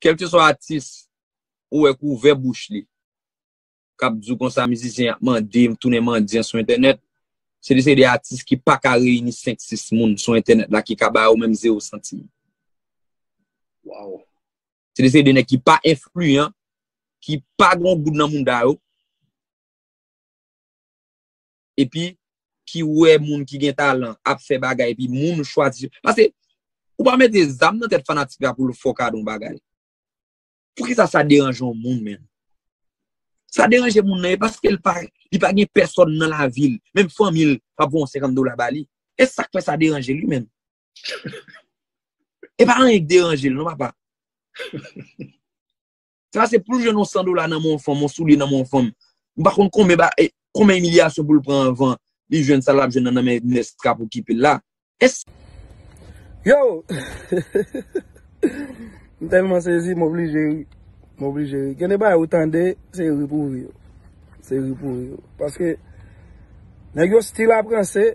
Kelke swa atis ou wè ki ouvè bouch li kap di w konsa mizisyen ap mande m tounen mandyan sou entènèt, se de se de atis ki pa ka reyini 5, 6 moun sou entènèt la ki ka ba yo menm 0 santim. Waww. Se de se de nèg ki pa enfliyan, ki pa gen yon goud nan mouda yo. epi ki wè moun ki gen talan ap fè bagay epi moun chwazi pase ou pa mete zam nan tèt fanatik la pou l fè w kado yon bagay poukisa sa deranje yon moun men sa deranje moun nan e paske l pa li pa gen pèsòn nan la vil menm fanmi l pa pou yon 50 dola ba li e sak fè sa deranje li men e pa anyen k deranje l non papa Sa se poul jwenn yon 100 dola nan men yon fanm, yon soulye nan men yon fanm. M pa konn konbyen ba, e, konbyen imilyasyon poul pran anvan li jwenn sa lap jwenn nan nan men nès kap okipel la. Es. Yo! M tèlman sezi m oblije ri. M oblije ri. Gen de bagay ou tande, se ri pou ri yo. Se ri pou ri yo. Paske, nèg yo stil ap ranse,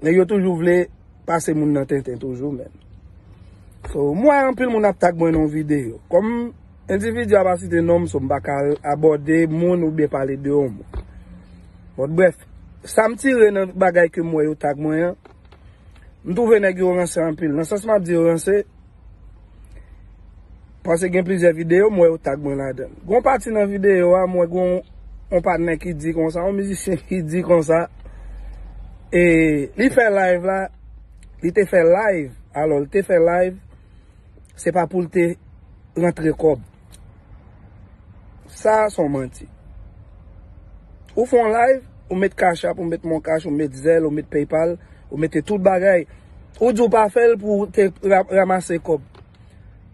Nèg yo toujou vle pase moun nan tenten toujou menn. So m wè anpil moun ap tag mwen nan yon videyo. Kòm endividi a pa site non m so m pa ka abòde moun oubyen pale de yon moun. Bon brèf, sa m tire nan bagay ke m wè yo tag mwen an, m twouve nèg yo ranse anpil. Nan sans m ap di yo ranse. Pase gen plizyè videyo m wè yo tag mwen ladan l. Gon pati nan videyo a m wè gon yon patnè ki di konsa, yon mizisyen ki di konsa, e li fè live la, li te fè live, alò li te fè live, se pa pou l te rantre kòb. Sa a son manti. Ou fè yon live, ou met cash app, ou met mon cash, ou met zelle, ou met paypal, ou mete tout bagay. Ou di ou pa fè l pou ou te ramase kòb.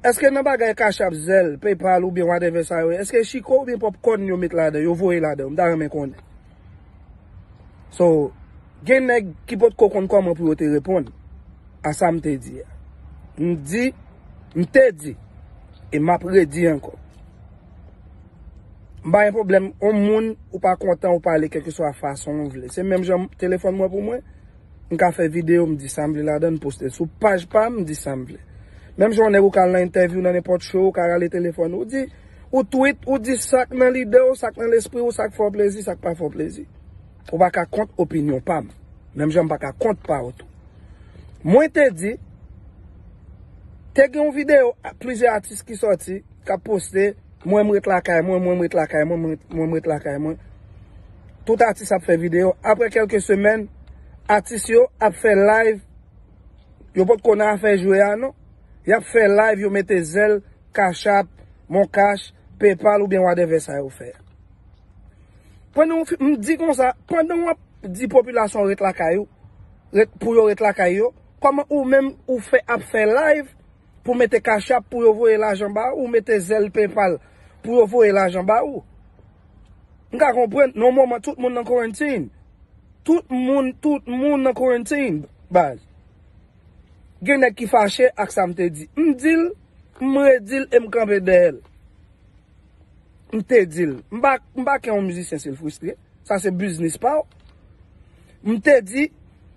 Eske nan bagay cash app, zelle, paypal ou byen whatever sa yo, eske chiko ou byen popcorn yo met ladan, yo voye ladan, m ta renmen konnen. So, gen nèg ki pot ko konn kòman pou yo te reponn a sa m te di a. M di, m te di, e m ap redi ankò. M pa gen pwoblèm, yon moun ou pa kontan ou pale kèlkeswa fason ou vle. Se menm jan telefòn mwen pou mwen, m ka fè videyo m di sa m vle ladan l poste l sou paj pa m, m di sa m vle. Menm jan yon nèg ou ka al nan entèvyou nan nenpòt show ou ka rale telefòn ou di. Ou tweet, ou di sa k nan lide w, sa k nan lespri w, sa k fè w plezi, sa k pa fè w plezi. Ou pa ka kont opinyon pa m, menm jan m pa ka kont pa w tou. Mwen te di, te gen yon videyo plizyè atis ki sòti, k ap poste, mwen m ret lakay mwen, mwen m ret lakay mwen, mwen m ret lakay mwen. Tout atis ap fè videyo. Aprè kèlke semèn, atis yo ap fè live, yo potko nan afè jwe a non, y ap fè live, yo mete zèl. Cash App, Mon Cash, Paypal oubyen wadèvè sa yo fè. Pandan w fin, m di konsa, pandan w ap di popilasyon an ret lakay ou, ret, pou yo ret lakay yo, kòman ou menm ou fè ap fè live pou w mete Cash App pou yo voye lajan ba ou, mete Zelle, Paypal pou yo voye lajan ba ou? M ka konprann, nan yon moman tout moun nan quarantine. Tout moun, tout moun nan quarantine baz. Gen nèg ki fache ak sa m te di. M di l, m redi l e m kanpe dèyè l. M te di l. M pa, m pa kè yon mizisyen si l fristre. Sa se biznis pa w. M te di,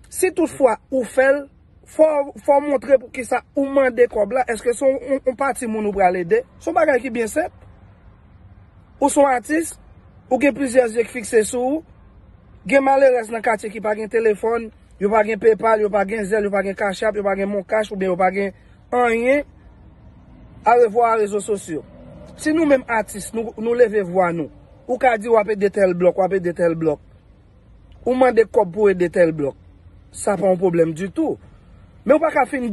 si tout fwa ou fè l, fò, fò w montre pou ki sa ou mande kòb la. Èske se yon pati moun ou pral ede? Se yon bagay ki byen senp. Ou se yon atis, ou gen plizyè zye ki fikse sou ou. Gen malerèz nan katye ki pa gen telefòn. Yo pa gen PayPal, yo pa gen Zelle, yo pa gen Cash App, yo pa gen Moncash oubyen yo pa gen anyen. Arevwa a rezo sosyo. Si nou menm atis nou leve vwa nou, ou ka di wap ede tèl blòk, wap ede tèl blòk. Ou mande kòb pou ede tèl blòk. Sa pa yon pwoblèm ditou. Men ou pa ka fin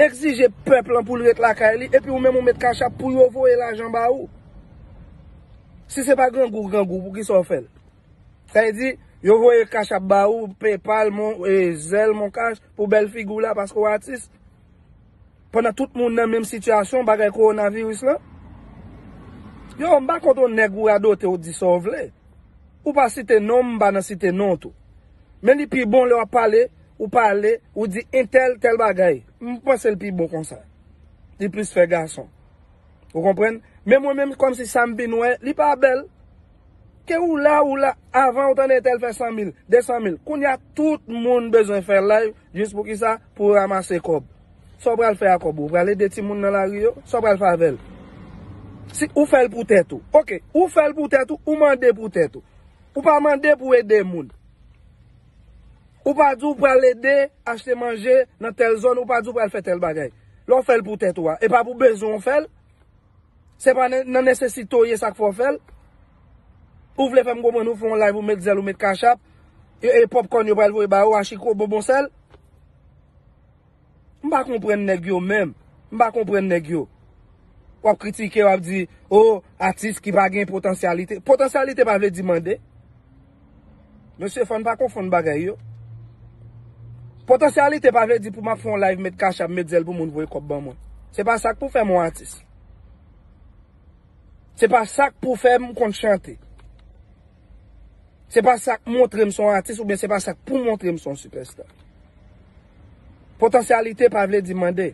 egzije pèp lan pou l ret lakay li epi ou menm ou met Cash App pou yo voye lajan ba ou. Si se pa grangou grangou, poukisa w fè l? Sa vle di, yo voye cash app ba ou, paypal, mon, zelle, mon cash, pou bèl figi w la paske w atis. Pandan tout moun nan menm sitiyasyon bagay kowonaviris lan. Yo, m pa kont on nèg ou radote ou di sa w vle. Ou pa site non m, m pa nan site non tou. Men li pi bon lè w ap pale, ou pale, ou di entèl tèl bagay. M panse l pi bon konsa. Li plis fè gason. Ou konprann? Men mwen menm kòmsi sa m vin wè, li pa bèl. Ke ou la ou la avan ou tande tel fè 100 mil, 200 mil. Kounya tout moun bezwen fè live jis pou kisa pou ramase kòb. Sa w pral fè a kòb ou? Ou pral ede timoun nan lari yo? Sa w pral fè avè l? Si ou fè l pou tèt ou. Ok, ou fè l pou tèt ou, ou mande pou tèt ou. Ou pa mande pou ede moun. Ou pa di ou pral ede achte manje nan tel zòn, ou pa di ou pral fè tel bagay. Lè w fè l pou tèt ou a, e pa pou bezwen w fè l? Se pa nan nesesite w ye sa k fè w fè l. Ou vle fè m konprann ou fè yon live ou met zèl ou met cachapp e popcorn yo pral voye ba ou a chiko bonbon sèl? M pa konprann nèg yo menm. M pa konprann nèg yo. W ap kritike w ap di, oh atis ki pa gen potansyalite. Potansyalite pa vle di mande. Mesye fòn pa konfonn bagay yo. Potansyalite pa vle di pou map fè yon live met cash app met zèl pou moun voye kòb ban mwen. Se pa sak pou fèm yon atis. Se pa sak pou fèm konn chante. Se pa sak montrem son atis oubyen se pa sak pou montrem son sipèsta. Potansyalite pa vle di mande.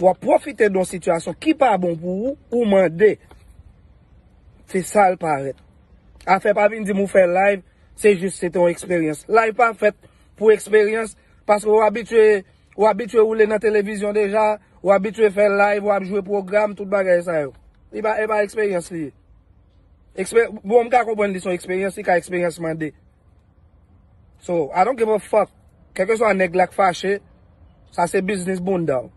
Wap profite don sitiyasyon ki pa bon pou ou ou mande. Se sal parèt. Afè pa vin dim ou fè live se jis se te yon eksperyans. Live pa fèt pou eksperyans paske ou abitye ou abitye woule nan televizyon deja, ou abitye fè live, ou ap jwe pwogram, tout bagay sa yo. Li pa e pa eksperyans li ye. Ekspe bon m ka konprann li son eksperyans li ka eksperyans mande. So, I don't give a fuck. Kèlkeswa nèg la k fache, sa se biznis bounda w.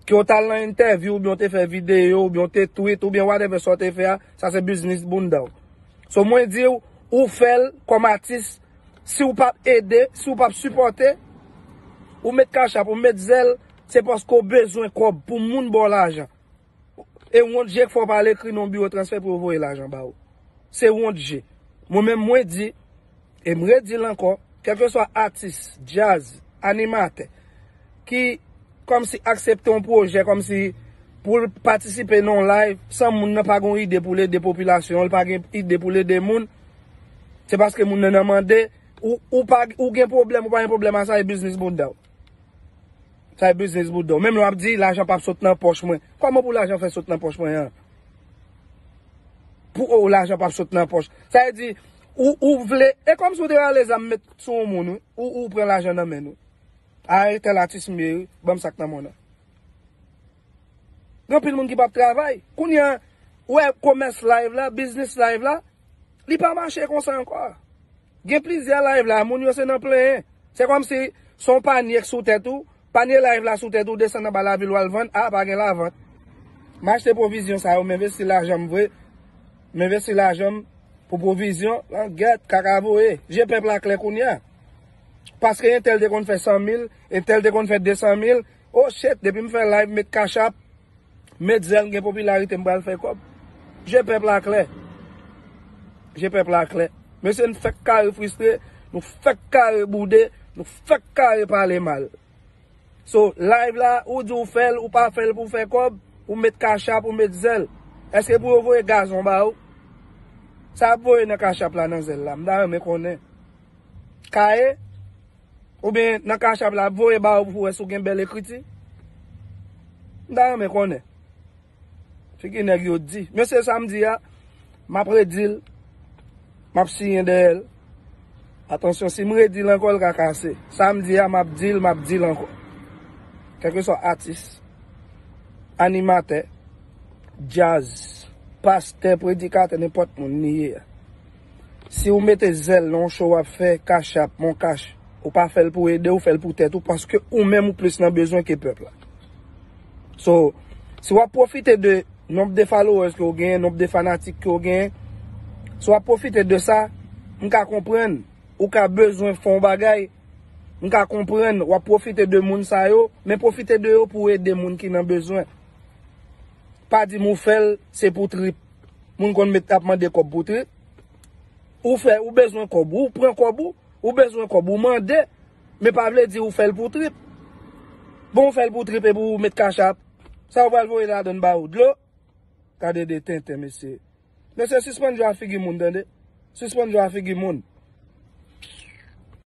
Ke w t al nan entèvyou oubyen w te fè videyo oubyen w te tweet oubyen whatever sa w te fè a, sa se biznis bounda w. So mwen di w, ou fè l kòm atis, si w pa p ede, si w pa p sipòte, ou met cash app, ou met Zelle, se paske w bezwen kòb pou moun ba w lajan. E wont je k fè w pa al ekri non biwo transfè pou yo voye lajan ba ou. Se wont je. Mwen menm mwen di, E m redi l ankò, kèlkeswa atis, djaz, animatè ki kòmsi aksepte yon pwojè kòmsi pou l patisipe nan yon live san moun nan pa gen yon ide pou l ede popilasyon an, li pa gen ide pou l ede moun, se paske moun nan nan mande, ou gen pwoblèm ou pa gen pwoblèm a sa e biznis bouda w. Sa e biznis bouda w. Menm lè w ap di lajan pap sot nan pòch mwen. Kòman pou lajan fè sot nan pòch mwen an? Pou ou lajan pap sot nan pòch. Sa vle di. Ou ou vle e kòmsi ou te rale zam met sou yon moun wi ou ou pran lajan nan menn wi aretel atis m ye wi banm sak nan mwen an gen anpil moun ki pap travay kounya ou wè komès live la biznis live la li pa mache konsa ankò gen plizyè live la moun yo se nan plenyen se kòmsi son panyek sou tèt ou. Panye live la sou tèt ou desann anba lavil wal vann ah pa gen lavant m achte pwovizyon sa yo m envesti lajan m vre m envesti lajan m pou pwovizyon langèt kaka voye je pèp la klè kounya paske entèl te konn fè 100 mil entèl te konn fè 200 mil oh chet depi m fè live m met cash app Met zel m gen popilarite m pral fè kob Je pèp la klè Je pèp la klè Mesye n fèk kare fristre Nou fèk kare boude Nou fèk kare pale mal So live la ou di w fèl ou pa fèl pou w fè kob Ou met kachap ou met zel Eske pou yo voye gazon ba ou Sa yap voye nan kachap la nan zel la m ta renmen konnen Kaye. Oubyen nan cash-app la ap voye ba ou pou wè si ou gen bèl ekriti? M ta renmen konnen. Figi nèg yo di. Mesye sa m di a, m ap redi l, m ap siyen dèyè l. Atansyon, si m redi l ankò l ka kase. Sa m di a m ap di l, m ap di l ankò. Kèlkeswa atis, animatè, djaz, pastè, predikatè, nenpòt moun li ye a. Si ou mete zèl nan yon show wap fè cash app, mon cash, ou pa fèl pou ede ou fèl pou tèt ou paske ou menm ou plis nan bezwen ke pèp la. So, si wap pwofite de nonb de followers ke ou genyen, nonb de fanatik ke ou genyen, si wap pwofite de sa, m ka konprann ou ka bezwen fè yon bagay, m ka konprann wap pwofite de moun sa yo, men pwofite de yo pou ede moun ki nan bezwen. Pa di m ou fèl se pou trip. Moun konn met ap mande kob pou trip. Ou fè, ou bezwen kob ou, ou pran kob ou. Ou bezwen kob ou mande. Men pa vle di ou fèl pou trip. Bon ou fèl pou trip epi ou met cash app. Sa ou pral voye ladann ba ou dlo? Gade de tenten mesye. Mesye sispann jwe a figi moun tande. Sispann jwe a figi moun.